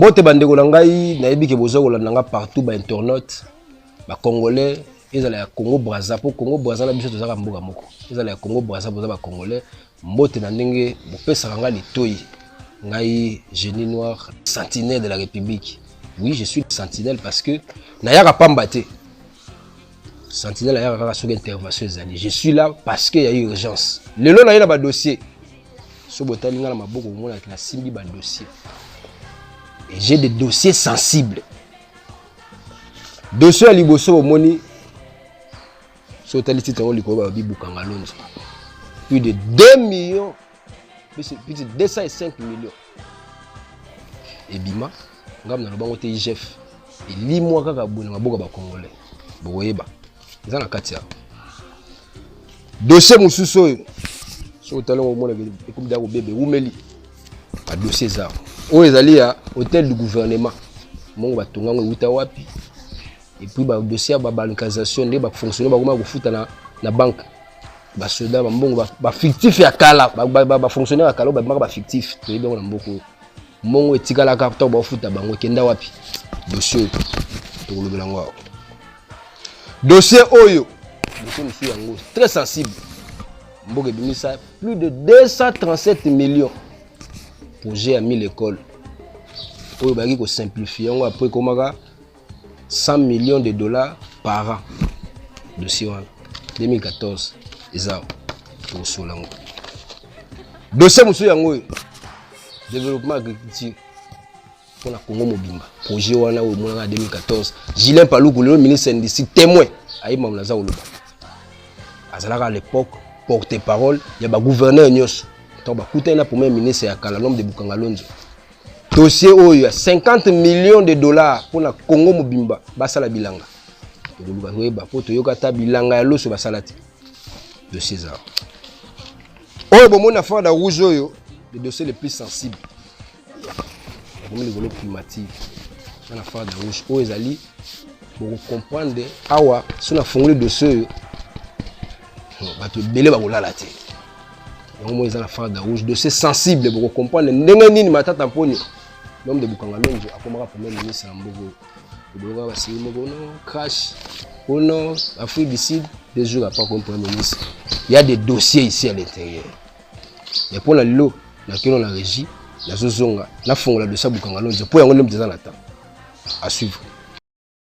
mbote bandeko na ngai nayebi ke boza kolanda nga partout ba internaute ba congolais ezala ya congo braza mpo congo braza na biso tozaka mboka moko ezala ya congo braza boza ba congolais Mbote na ndenge bopesaka ngai litoyi ngai génie noir sentinelle de la république oui je suis sentinelle parce que nayaka pamba te sentinelle ayaka kaka soki intervention ezali je suis là parce que ya urgence lelo naye na badossier so botali ngai na maboko omonaki nasimbi badossier et j'ai des dossiers sensibles dossier ya liboso bomoni soki otali titre yango likolo balobi bukangalonzo plus de 2 millions plus de 205 millions ebima ngai naloba yango te igf elimwa kaka boye na maboko ya bacongolais bokoyeba eza na kati ya dosie mosusu oyo soki otali yango omona ekomi deya kobebe ewumeli badosie eza oyo ezali ya hôtel du gouvernement mongo batonga yango ewuta wapi et puis ba dossier ya ba balkanisation nde ba fonctionnaire ba koma kofuta na na banque ba soda ba mbongo ba fictif ya kala ba fonctionnaire ya kala ba bimaka ba fictif to yebi na mboko mbongo etikalaka to ba futa bango kenda wapi dossier to kolobela ngo awa dossier oyo dossier musu yango très sensible mboka ebimisa plus de 237 millions projet ya 1000 écoles oyo bayaki kosimplifie yango apres ekomaka 100 millions de dollars par an dossier wana 2014 eza awa tokosola yango dossier mosusu yango oyo développement agriculture mpo na congo mobimba projet wana oyo emonaka 2014 gilin paluku lelo ministre ndisi témoin ayebama naza koloba azalaka à l'époque porte parole ya bagouverneur nyonso ntango bakutani na premier ministre ya kala lome de bukangalonzo dossier oyo ya 50 millions de dollars mpo na congo mobimba basala bilanga tokoluka toyeba mpo toyoka ata bilanga ya loso basala te dossier eza oyo bomoni na fada rouge oyo le dossier le plus sensible ekomi likolo primative na na fada rouge oyo ezali bokokomprendre awa so nafungoli dossier oyo bato ebele bakolala te yango moi eza na farda rouge dossier sensible bokokomprendre ndenge nini matata mponi l'homme de bukanga lonzo akomaka premier ministre na mboka oyo eboloka basili moko no crash au nord afrique du sud deux jours après comme premier ministre il y a des dossiers ici à l'intérieur mais mpo na lelo nakeno na régie nazozonga nafongola dossier ya bukanga lonzo mpo yango nde moto eza na temps à suivre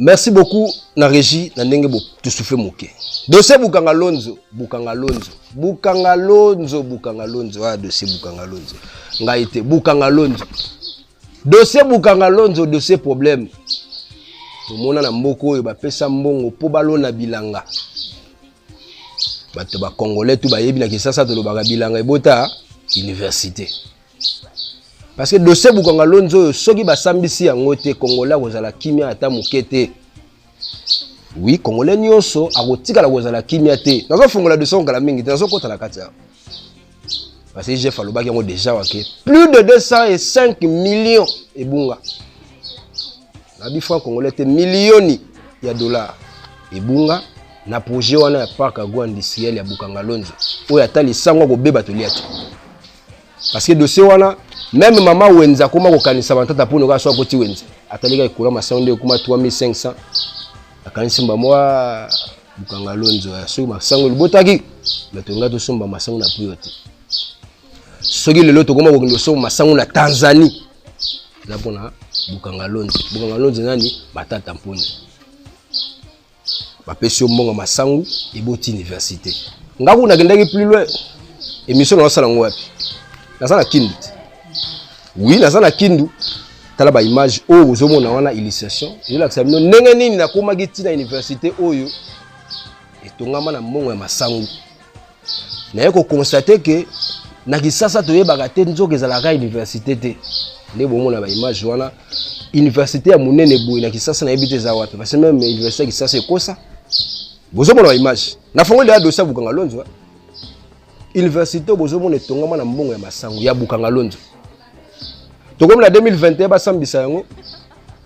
merci beaucoup na régie na ndenge tosouffle moke dossier bukanga lonzo bukanga lonzo bukanga lonzo bukanga lonzo ah dossier bukanga lonzo ngai te bukanga lonzo dossier bukanga lonzo dossier problème tomona na mboka oyo bapesa mbongo mpo balona bilanga bato bacongolais tu bayebi na kisasa tolobaka bilanga ebota université parce que dossier bukanga lonzo oyo soki basambisi yango te congolais akozala kimia ata moke te oui congolais nyonso akotikala kozala kimia te nazofungola dossier yango kala mingi te nazokota na kati ya parce que jeff alobaki yango déjà wake plus de 205 millions ebunga nabi franc congolais te milioni ya dollar ebunga na projet wana ya parc agro industriel ya bukanga lonzo oyo ata lisango akobeba tolia te parce que dossier wana meme mama wenza akoma kokanisa bantata mpo noka so akoti wenza atalika ekola masango nde ekoma 3500 akanisi mba mwa bukanga lonzo ya soki masango libotaki me tolinga tosomba masango na priyo te soki lelo tokoma kokende osomba masango na tanzanie eza mpona bukanga lonzo bukanga lonzo nani matata mponi bapesi yo mbongo masangu eboti université nga kuna nakendaki plus loin émission naosala yango wapi naza na kindu te wi naza na kindu tala baimage oyo oh, ozomona wana illustration ezolakisa bino ndenge nini nakomaki ntina université oyo etongama na mbongo ya masangu naye koconstate ke na kisasa toyebaka te nzoka ezalaka université te nde bomona baimage wana université ya monene boye na kisasa nayebi te eza wapi parce meme université ya kisasa ekosa bozomona baimage na fongo leya dosi ya bukanga lonzo université bozomona etongama na mbongo ya masango ya bukanga lonzo tokomi na 2021 basambisa yango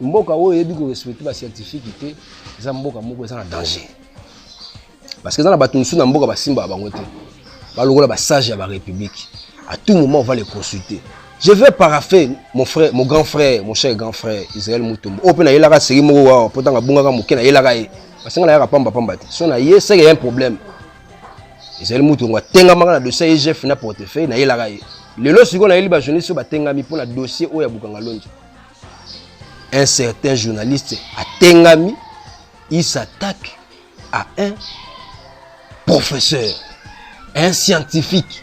mboka oyo eyebi ko respecter ba scientifique te eza mboka moko eza na danger parce que eza na bato mosusu na mboka basimbaka bango te balokola basage ya barépublique à tout moment on va les consulter je vais parapher mon frère mon grand frère mon cher grand frère israel mutombo oyo mpe nayelaka seki moko wawa mpo ntango abungaka moke nayelaka ye parce nga nayaka pamba pamba te so naye seke ya un problème israel mutombo atengamaka na dossier egf na portefeuille nayelaka ye lelo sikoyo nayeli bajournaliste oyo batengami mpo na dossier oyo ya bukanga lonzo un certain journaliste atengami il s'attaque à un professeur un scientifique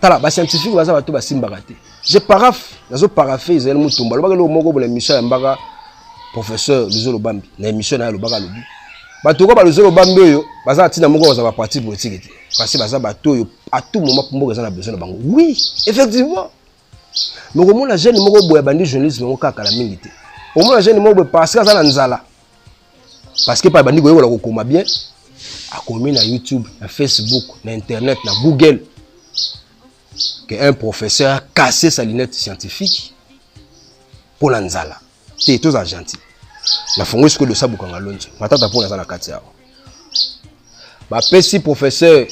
tala bascientifique baza bato basimbaka te je parafe nazo parafe ezali motumba alobaka eloko moko bona émission ya mbaka professeur luzolo bambi na émission na ye alobaka alobi bato oyo baluzolo bambi oyo baza na ntina moko baza ba pratique politique te parce que baza bato oyo à tout moment mboka eza na besoin na bango oui effectivement mais okomona jeune moko boye abandi journalisme yango kaka kala mingi te okomona jeune moko boye parce que aza na nzala parce que pa abandi koyekola kokoma bien akomi na youtube na facebook na internet na google que un professeur a cassé sa lunette scientifique mpo na nzala te toza gentil na fongo esiko dosa bukanga lonzo matata mpona aza na kati awa bapesi professeur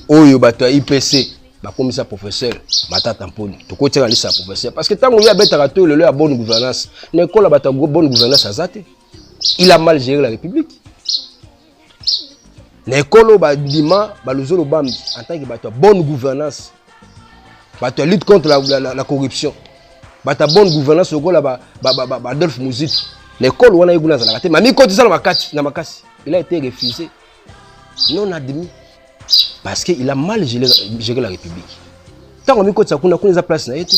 oyo bato ya ipc bakomisa professeur matata mponi tokotiaka lisa ya professeur parce que ntango ye abetaka to lelo ya bonne gouvernance na ekola bato ya bonne gouvernance aza te il a mal géré la république na ekolo bandima baluzolo bambi en tant que bato ya bonne gouvernance bato ya lutte contre la, la, la, la corruption bato ya bonne gouvernance lokola baadolphe muzito na ekolo wana ye kuna azalaka te mamikotisa na makasi na makasi il a été refusé non admis parce que il a mal géré la république ntango amikotisa kuna kuna eza place na ye te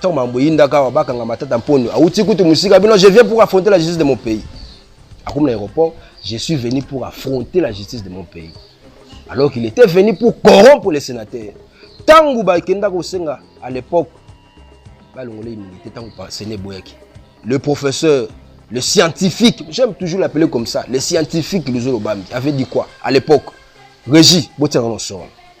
Tant mambo yinda kawa bakanga matata mpondo awuti kutu musika bino je viens pour affronter la justice de mon pays akomi na aéroport je suis venu pour affronter la justice de mon pays alors qu'il était venu pour corrompre les sénateurs ntango bakenda kosenga à l'époque balongola immunité ntango sene eboyaki le professeur le scientifique j'aime toujours l'appeler comme ça le scientifique luzolo bambi avait dit quoi à l'époque régie botiaka na soro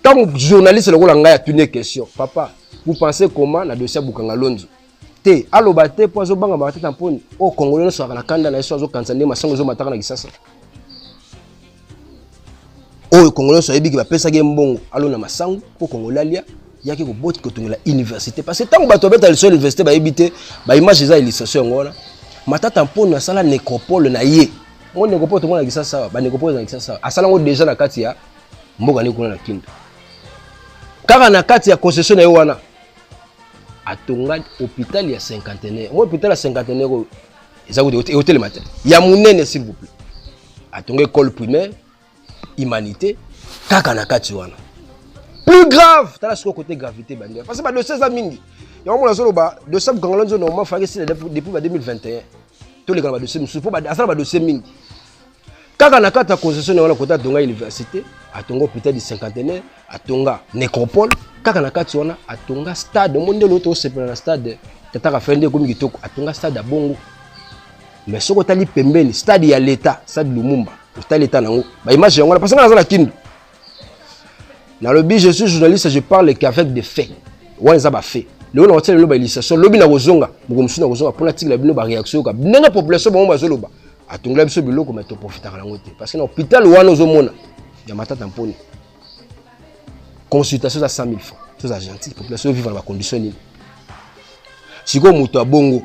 ntango journaliste lokola ngai atuni ye question papa vous pensez comment na dossier ya bukanga lonzo te aloba te mpo azobanga matata mponi oyo kongolo nyonso azalaka na kanda na ye so azokanisa nde masango ezomataka na kisasa oyo kongolo nyonso ayebiki bapesaki ye mbongo alona masango mpo kongolo alia yaki koboti kotongela université parce que ntango bato babeta liso ya université bayebi te baimage eza illustration yango wana matata mponi asala necropole na ye ngo necropole tomona kisasa awa banecropole eza na kisasa awa asala yango déjà na kati ya mboka nini kuna na kindu kaka na kati ya concession na ye wana atonga hôpital ya cinquantenaire ngo hôpital ya cinquantenaire oyo eza kuti eotelema te ya monene s'il vous plaît atonga école primaire humanité kaka na kati wana plus grave tala sikoyo kote gravité bandeko parce que badosie eza mingi yango mona azoloba dosie bukangala nzo normalement faki esila depuis ba 2021 toleka na badosie mosusu mpo asala badosie mingi kaka na kati ya concession na wana kota atonga université atonga hôpital du cinquantenaire atonga nécropole kaka na kati wana atonga stade omoni nde loo tosepela na stade tata rafael nde ekomi kitoko atonga stade ya bongo mais soki otali pembeni stade ya leta stade lumumba otali leta nango baimage yango wana parce nga naza na kindu nalobi je suis journaliste je parle qu'avec des faits wana eza bafait lelo na kotia lelo baillustration lobi na kozonga moko mosusu na kozonga mpo natikela bino bareaction yoka ndenge population bango bazoloba atongela biso biloko me toprofitaka nango te parce que na hôpital wana ozomona ya matata mponi consultation eza 100 000 francs toza gentil population vivre na bacondition nini sikoyo moto ya bongo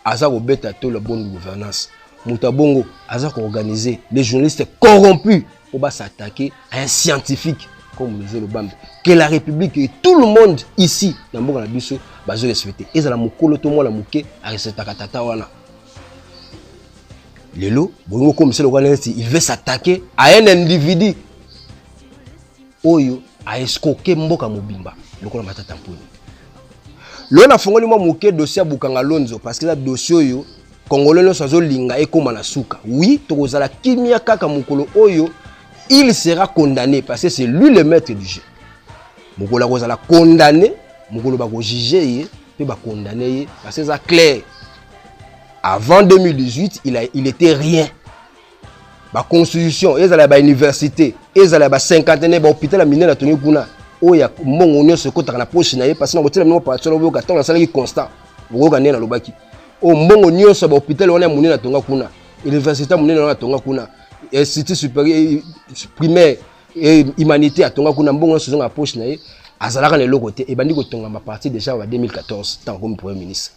aza kobeta tolo ya bonne gouvernance moto ya bongo aza koorganize les journalistes corrompus mpo ba s'attaquer à un scientifique comme Mzee Lobambe que la République et tout le monde ici na mboka na biso bazo respecter ezala mokolo to mwana moke arespectaka tata wana lelo bolingo okomisa lokola neti il veut s'attaquer à un individu oyo a escroquer mboka mobimba lokola Matata Mponyo. Lelo nafongoli mwa moke dossier ya Bukanga Lonzo parce que eza dossier oyo Congolais nyonso azolinga ekoma na suka. Oui, tokozala kimia kaka mokolo oyo il sera condamné parce que c'est lui le maître du jeu. Mokolo akozala condamné, mokolo bakojuge ye mpe bakondane ye parce que eza clair. Avant 2018, il, a, il était rien. baconstitution ezala ya bauniversité ezala ya bacinquantenaire bahôpital ya minene atongi kuna oyo ya mbongo nyonso ekotaka na poche na ye mpasi na kotyela bino bapartition na boyoka ntango nasalaki constat bokoyoka nde nalobaki oyo mbongo nyonso ya bahôpital wana ya monene atonga kuna université ya monene wana atonga kuna institut supérieur primaire humanité atonga kuna mbongo nyonso ezonga na poche na ye azalaka na eloko te ebandi kotongama partir déjà ya 2014 ntango akomi premier ministre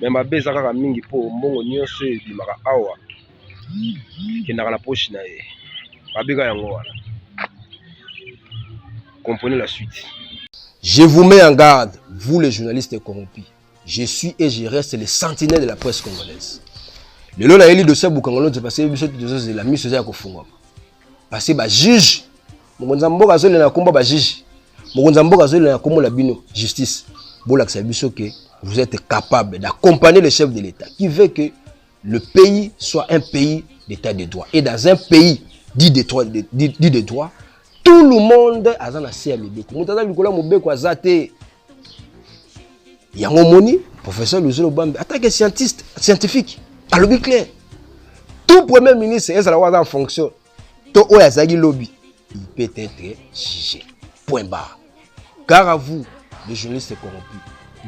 me mabe eza kaka mingi mpo mbongo nyonso oyo ebimaka awa ekendaka na poche na ye mabe kaka yango wana comprenez la suite je vous mets en garde vous les journalistes corrompus je suis et je reste le sentinelle de la presse congolaise lelo nayeli dossier ya bukangolonze parce que biso tozozela miso eza ya kofungwama base bajuge mokonzi ya mboka azolela na nkombo ya bajuge mokonzi ya mboka azolela na nkombo na bino justice bolakisa biso ke vous êtes capable d'accompagner le chef de l'état qui veut que le pays soit un pays d'état de droit et dans un pays dit de, droit, dit, dit de droit tout le monde aza na se ya mibeko moto aza likolo ya mobeko aza te yango omoni professeur luzolo bambi atake scientiste scientifique alobi clair tout premier ministre ezala oyo aza en fonction to oyo azalaki lobi il peut être jugé point barre gare à vous les journalistes corrompus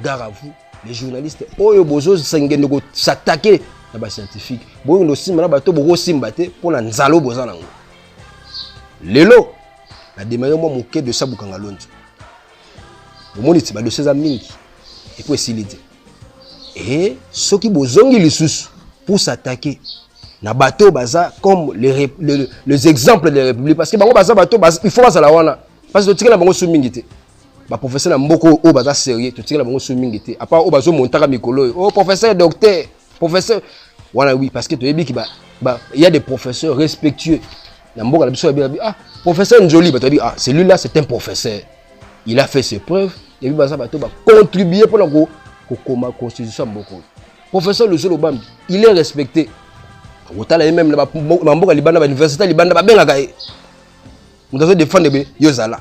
gare à vous les journalistes oyo bozosengende kosatake na bascientifique boyokende osimba na bato bokosimba te mpo na nzalo boza nango lelo na demare mwa moke de sabukanga lonzo omoni ti badosi eza mingi epo esili te e soki bozongi lisusu pour s'attaquer na bato oyo baza comme les, les, les exemples de la république parce que bango baza bato baz, il faut bazala wana parce que totikela bango su mingi te baprofesseur na mboka oyo baza sérieux totikela bango su mingi te apart oyo bazomontaka mikolo oyo o oh, professeur docteur professeur wana oui parce que toyebi ki ba, ba, ya des professeurs respectueux na mboka na biso yabi ah professeur njoli bato yabi ah celui là c'est un professeur il a fait ses preuves yabi baza bato bacontribue mpo na kokoma constitution ya mboka oyo professeur lusu lobambi il est respecté okotala ye meme na bamboka libanda bauniversité libanda babengaka ye moto azo defendre be yo zala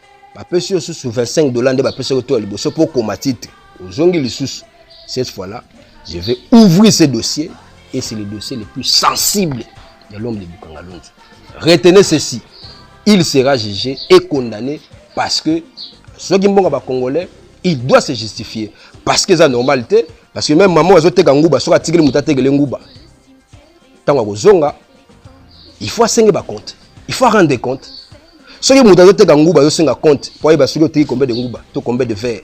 bapesi yo susu 25 dollars nde bapesi yo to ya liboso mpo okoma titre ozongi lisusu cette fois là je vais ouvrir ce dossier et c'est le dossier le plus sensible de l'homme de bukangalonzo retenez ceci il sera jugé et condamné parce que soki mbongo ya bacongolais il doit se justifier parce que eza normal te parce que même maman azoteka nguba soki atikeli moto atekele nguba ntango akozonga il faut asenge bacompte il faut arendre de compte soki moto azoteka nguba azosenga compte mpo ayeba soki oteki combien de nguba to combien de verre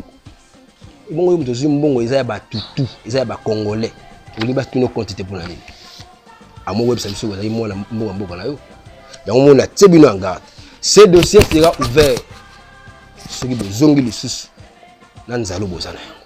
ebongo yo moto ozwi mbongo eza ya batutu eza ya bacongolais olingi batuna compte te mpo na nini amoko oyebisa biso ozali mwana mbongo ya mboka na yo yango mona tie bino en garde ce dossier sera ouvert soki bozongi lisusu na nzalo boza na yango